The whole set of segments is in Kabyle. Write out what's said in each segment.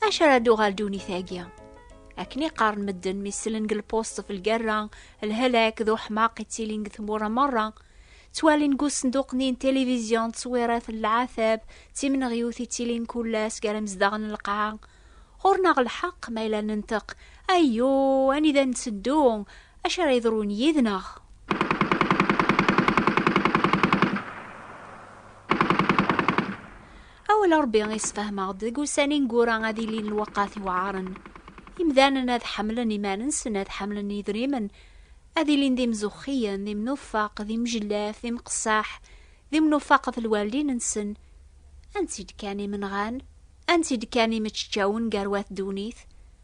Acu ara d-uɣal ddunit-agi? Akken i qqaren medden mi sellen deg lpusṭ ɣef lgerra, lhelak d uḥmaq i ttilin deg tmura merra. Ttwalin deg usenduq-nni n tilivizyu ttwirat n leɛtab d timneɣyut i ttilin kull ass gar imezdaɣ n lqaɛa. Ɣur-neɣ lḥeqq ma yella nenṭeq, ayyu, anida netteddu, acu ara yeḍrun yid-neɣ? Awal Ṛebbi isefhem-aɣ-d deg ussan ineggura ad ilin lweqqat iweɛṛen. Imdanen ad ḥemlen iman-nsen, ad ḥemlen yedrimen, ad ilin d imzuxxiyen, d imnufaq, d imjellaf, d imqessaḥ, d imnufaq ɣef lwaldin-nsen. Ansi d-kkan imenɣan? Ansi d-kkan imeččawen gar wat ddunit?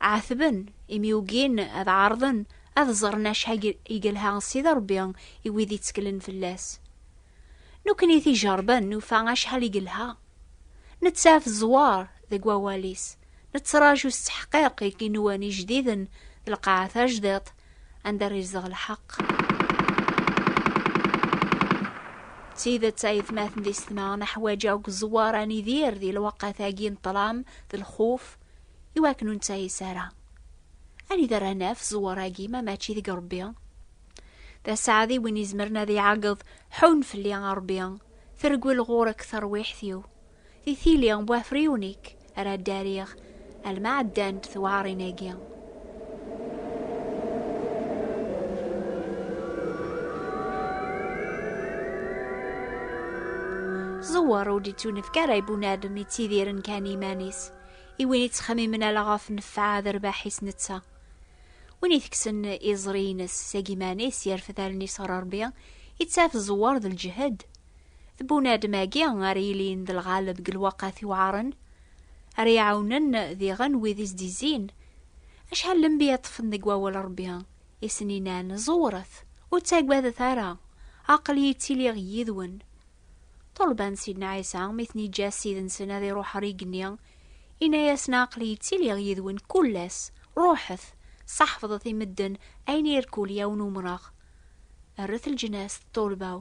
Ɛetben imi ugin ad ɛerḍen ad ẓren acḥal i yelha Sidi Ṛebbi i wid itteklen fell-as. Nekkni t-ijeṛben nufa acḥal i yelha. Nettaf zzwaṛ deg wawal-is, nettraǧu s tteḥqiq igenwan ijdiden d lqaɛa tajdiṭ anda ara izdeɣ lḥeqq. D tidet ay atmaten d isetma, neḥwaj akk zzwaṛ ad nidir di lweqt-agi n ṭṭlam d lxuf. i wakken ur nettayis ara. Anida ara naf ẓẓwer-agi ma mačči deg Ṛebbi? D aseɛdi win izemren ad iɛeggeḍ, Ḥunn fell-i, a Ṛebbi, tergel ɣur-k terwiḥt-iw. Di tili n wafriwen-ik ara ddariɣ, alma ɛeddant tewɛaṛin-agi. ẓewwer ur d-ittunefk ara i bunadem yettidiren kan iman-is i win yettxemmimen ala ɣef nnfeɛ d rrbaḥ-is netta win iteksen iẓri-ines seg iman-is yerfed allen-is ɣer Rebbi ittaf ẓewwer d lǧehd d bunadem-agi ara yilin d lɣaleb deg lwaqat iwɛaren Ara iɛawnen diɣen wid i s-d-izzin. Acḥal lembiya ṭṭfen deg wawal Rebbi, i sen-inan, Ẓewret, ur ttagadet ara, aql-iyi ttiliɣ yid-wen. Ṭulban Sidna Ɛisa, mi ten-iǧǧa Ssid-nsen ad iruḥ ɣer igenni, inna-yasen, Aql-iyi ttiliɣ yid-wen kul ass, ruḥet, seḥfḍet i medden ayen i irkul yawen umreɣ. rret lǧnas d ṭulba-w.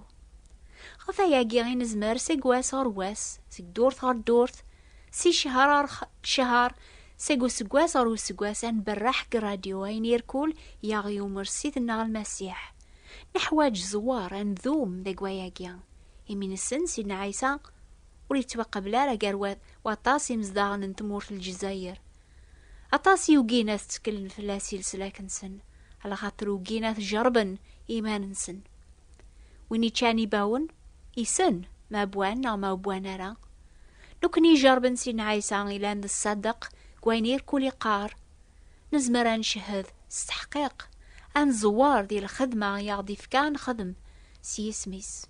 Ɣef ayagi i nezmer seg wass ɣer wass, seg ddurt ɣer ddurt, si cehar ɣer cehar, seg useggas ɣer useggas ad nberreḥ deg rradyu ayen irkul i aɣ-yumer Ssid-nneɣ Lmasiḥ. Neḥwaǧ zzwar ad ndum deg wayagi, imi nessen Sidna Ɛisa ur yettwaqabel ara gar waṭas imezdaɣen n tmurt n Lezzayer, Aṭas i ugin ad tteklen fell-as i leslak-nsen, lxaṭer ugin ad t-jerben iman-nsen. Win iččan ibawen, isen ma wwan neɣ ma wwan ara. Nekkni ijerben Sidna Ɛisa ilan d ṣṣadeq deg wayen irkul iqqar, nezmer ad ncehhed s teḥqiq, ad nẓewwer di lxedma i aɣ-d-ifka ad nexdem s yisem-is.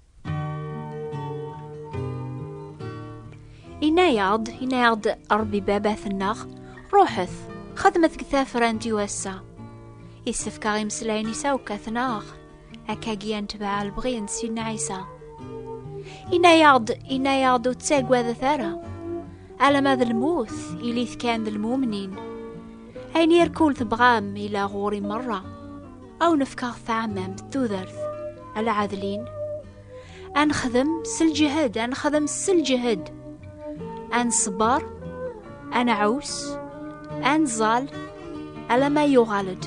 Yenna-yaɣ-d, yenna-yaɣ-d Ṛebbi Baba-tenneɣ, ruḥet, xedmet deg tafrant i wass-a. Yessefk-aɣ imeslayen i sawkat-neɣ, akkagi ad netbeɛ lebɣi n Sidna Ɛisa. Yenna-yaɣ-d, yenna-yaɣ-d ur ttagadet ara, alama d lmut, ilit kan d lmumnin. Ayen irkul tebɣam, ila ɣur-i merra. Aw nefkaɣ taɛmamt tudert ala ɛadlin ad nexdem s lǧehd ad nexdem s lǧehd ad nṣebber ad nɛus ad nẓal alamma yuɣal-d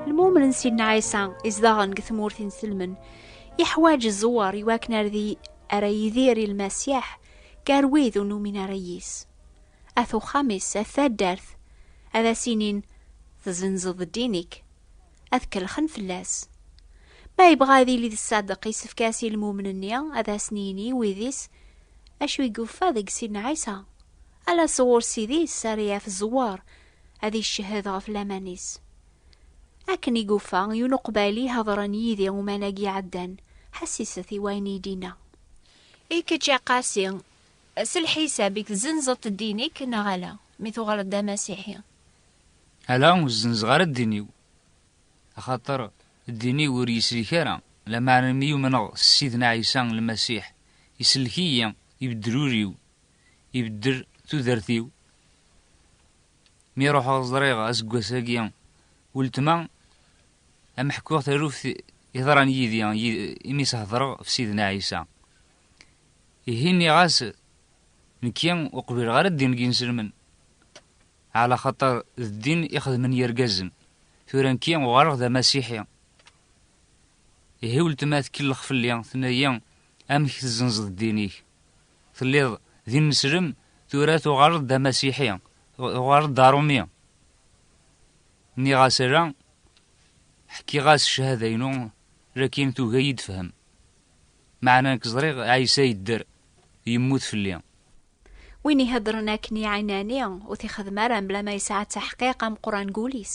lmumen n sidna ɛisa izdaɣen deg tmurt inselmen yeḥwaǧ ẓẓewwer iwakken ar di ara yidir i lmasiḥ gar wid ur numin ara yis. At uxxam-is, at taddart, ad as-inin, Tezzenzeḍ ddin-ik. Ad kellxen fell-as. Ma yebɣa ad yili d ṣṣadeq, yessefk-as i lmumen-nni ad asen-yini i wid-is acu i yuffa deg Sidna Ɛisa. Ala sɣur Ssid-is ara yaf zzwar ad iccehhed ɣef laman-is. Akken i yuffa, yiwen uqbayli i hedren yid-i uman-agi iɛeddan, ḥessiset i wayen i yi-d-yenna. I kečč a Qasi, s lḥisab-ik tzenzeḍ-t ddin-ik neɣ ala mi tuɣaleḍ d amasiḥi? Ala, ur zzenzeɣ ara ddin-iw, axaṭer ddin-iw ur yisellek ara, lameɛna mi umneɣ s Ssidna Ɛisa Lmasiḥ, isellek-iyi, ibeddel ul-iw, ibeddel tudert-iw. Mi ruḥeɣ ẓriɣ aseggas-agi weltma am ḥkuɣ taluft iḍran yidi imi s-hedreɣ f Sidna Ɛisa. Ihi nniɣ-as nekki ur qbileɣ ara ddin n yinselmen ɛla xaṭer d ddin i xedmen yirgazen tura nekki uɣaleɣ d amasiḥi. Ihi weltma tkellex fell-i tenna-yi amek tezzenzeḍ ddin-ik. Telliḍ d ineslem, tura tuɣaleḍ d amasiḥi, tuɣaleḍ d arumi. Nniɣ-as ala, ḥkiɣ-as ccahada-inu, lakin tugi ad iyi-d-tefhem. Meɛna nekk ẓriɣ Ɛisa yedder, yemmut fell-i. Win iheddren akken i ɛinani, ur t-ixeddem ara mebla ma yesɛa taḥqiq ameqqran deg wul-is.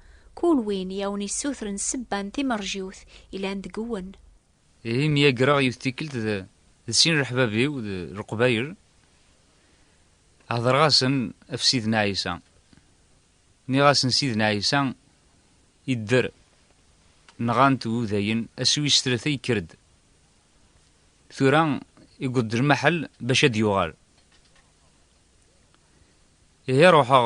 Kul win i awen-yessutren ssebba n timerjiwt yellan deg-wen. Ihi myagreɣ yiwet tikkelt d d sin leḥbab-iw d Leqbayel, hedreɣ-asen ɣef Sidna Ɛisa. Nniɣ-asen Sidna Ɛisa yedder, nɣan-t Wudayen, ass wis tlata yekker-d. Tura iwweḍ-d lmaḥel bac ad d-yuɣal. Ihi ruḥeɣ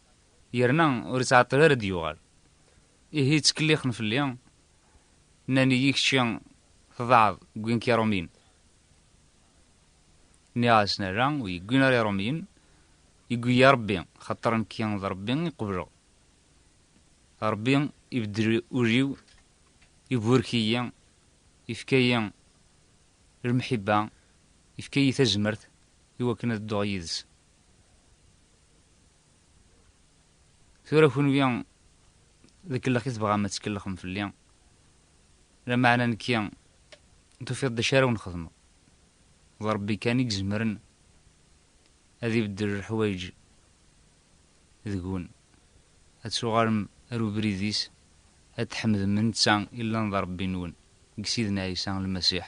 yerna ur ittɛeṭṭil ara d-yuɣal. Ihi ttkellixen fell-i, nnan-iyi kečči tḍaɛeḍ ggin-k iṛumyen. Nniɣ-asen ala, ur yi-ggin ara iṛumyen, yeggi-yi Ṛebbi, xaṭer nekki d Ṛebbi i qebleɣ. Ṛebbi ibeddel ul-iw, iburek-iyi, ifka-yi lmeḥibba, ifka-yi tazmert i wakken ad dduɣ yid-s. tura kunwi deg kellex i tebɣam ad tkellxem fell-i lamaɛna nekki tufiḍ d acu ara wen-xedmeɣ d rebbi kan i izemren ad ibeddel leḥwayeǧ deg-wen ad tuɣalem ar ubrid-is ad tḥemdem netta i llan d rebbi-nwen deg Sidna Ɛisa Lmasiḥ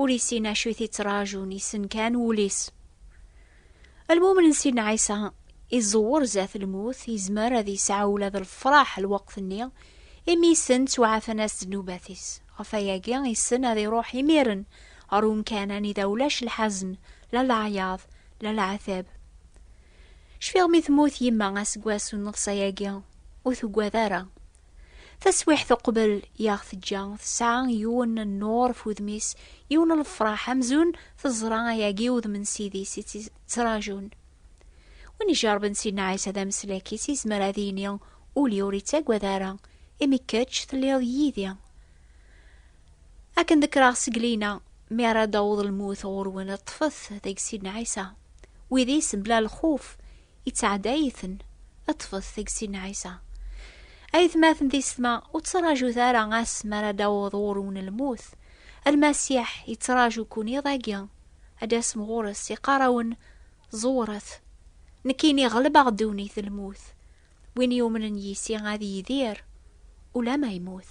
ur isin acu i t-ittrajun, issen kan wul-is. Almumen n Sidna Ɛisa iẓewwer zdat lmut, izmer ad yesɛu ula d lefraḥ lweqt-nni, imi issen ttwaɛfan-as ddnubat-is. Ɣef wayagi, issen ad iruḥ imiren ɣer umkan anida ulac lḥazen, la leɛyaḍ, la leɛtab. Cfiɣ mi temmut yemma aseggas n nneɣs-ayagi, ur tugad ara. Taswiḥt uqbel i aɣ-teǧǧa, tesɛa yiwen n nnur ɣef wudem-is, yiwen n lefraḥ amzun teẓra ayagi udem n Ssid-is i tt-yettrajun. Win ijerben Sidna Ɛisa d ameslak-is yezmer ad yini, Ul-iw ur ittagad ara, imi kečč telliḍ yid-i. Akken dekreɣ seg lina, mi ara d-taweḍ lmut ɣur-wen, ṭṭfet deg Sidna Ɛisa. Wid-is, bla lxuf, Yettɛedday-iten. Ṭṭfet tagsi n Ɛisa. Aytmaten di setma, ur ttraǧut ara ass mi ara d-aweḍ ɣur-wen lmut. Lmasiḥ yettraǧu-ken iḍ-agi. Ad d-tasem ɣur-s, iqqar-awen, Ẓewret! Nekkini ɣelbeɣ ddunit d lmut. Win yumnen yis-i ad yidir ulamma yemmut.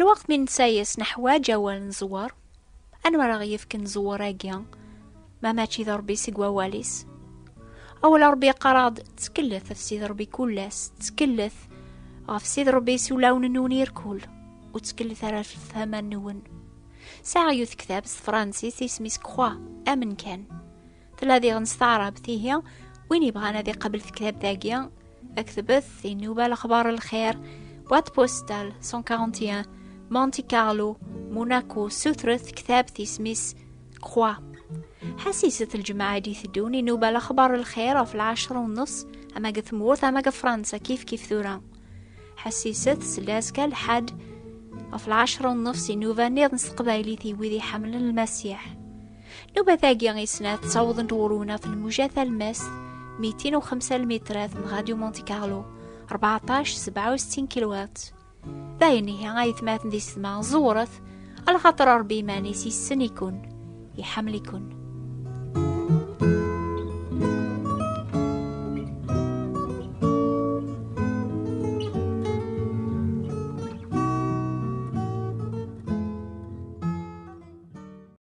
Lweqt mi netta-yas neḥwaǧ awal n ẓẓwer, anwa ara ɣ-yefken ẓẓwer-agi ma mačči d Ṛebbi seg wawal-is? Awal n Ṛebbi yeqqar-aɣ-d, Ttkelllet ɣef Sidi Ṛebbi kul ass, ttkelllet ɣef Sidi Ṛebbi s ulawen-nwen irkul, ur ttkelllet ara ɣef lefhama-nwen. Sɛiɣ yiwet tektab s tefransist isem-is Croix, amen kan. tella diɣen s taɛrabt ihi win yebɣan ad iqabel tektab dagi aktbet inuba lexbar lxir boîte postale 141 Monte Carlo Monaco sutret tektabt ismis Croix ḥasiset lǧemɛa d iteddun inuba lexbar lxir ɣef lɛecra u nus ama deg tmurt ama deg Fransa kif kif tura ḥasiset s laska lḥad ɣef lɛecra u nus inuba niḍen s teqbaylit i wid iḥemmlen lmasiḥ Nubat-agi i snat ttawḍent ɣur-wneɣ telmuja talmast 205 lmitrat n Radio Monte Carlo 1467 kilowat. D ayen ihi ay tmaten di sedma ẓewret ala xaṭer Ṛebbi iman-is yessen-iken, iḥemmel-iken.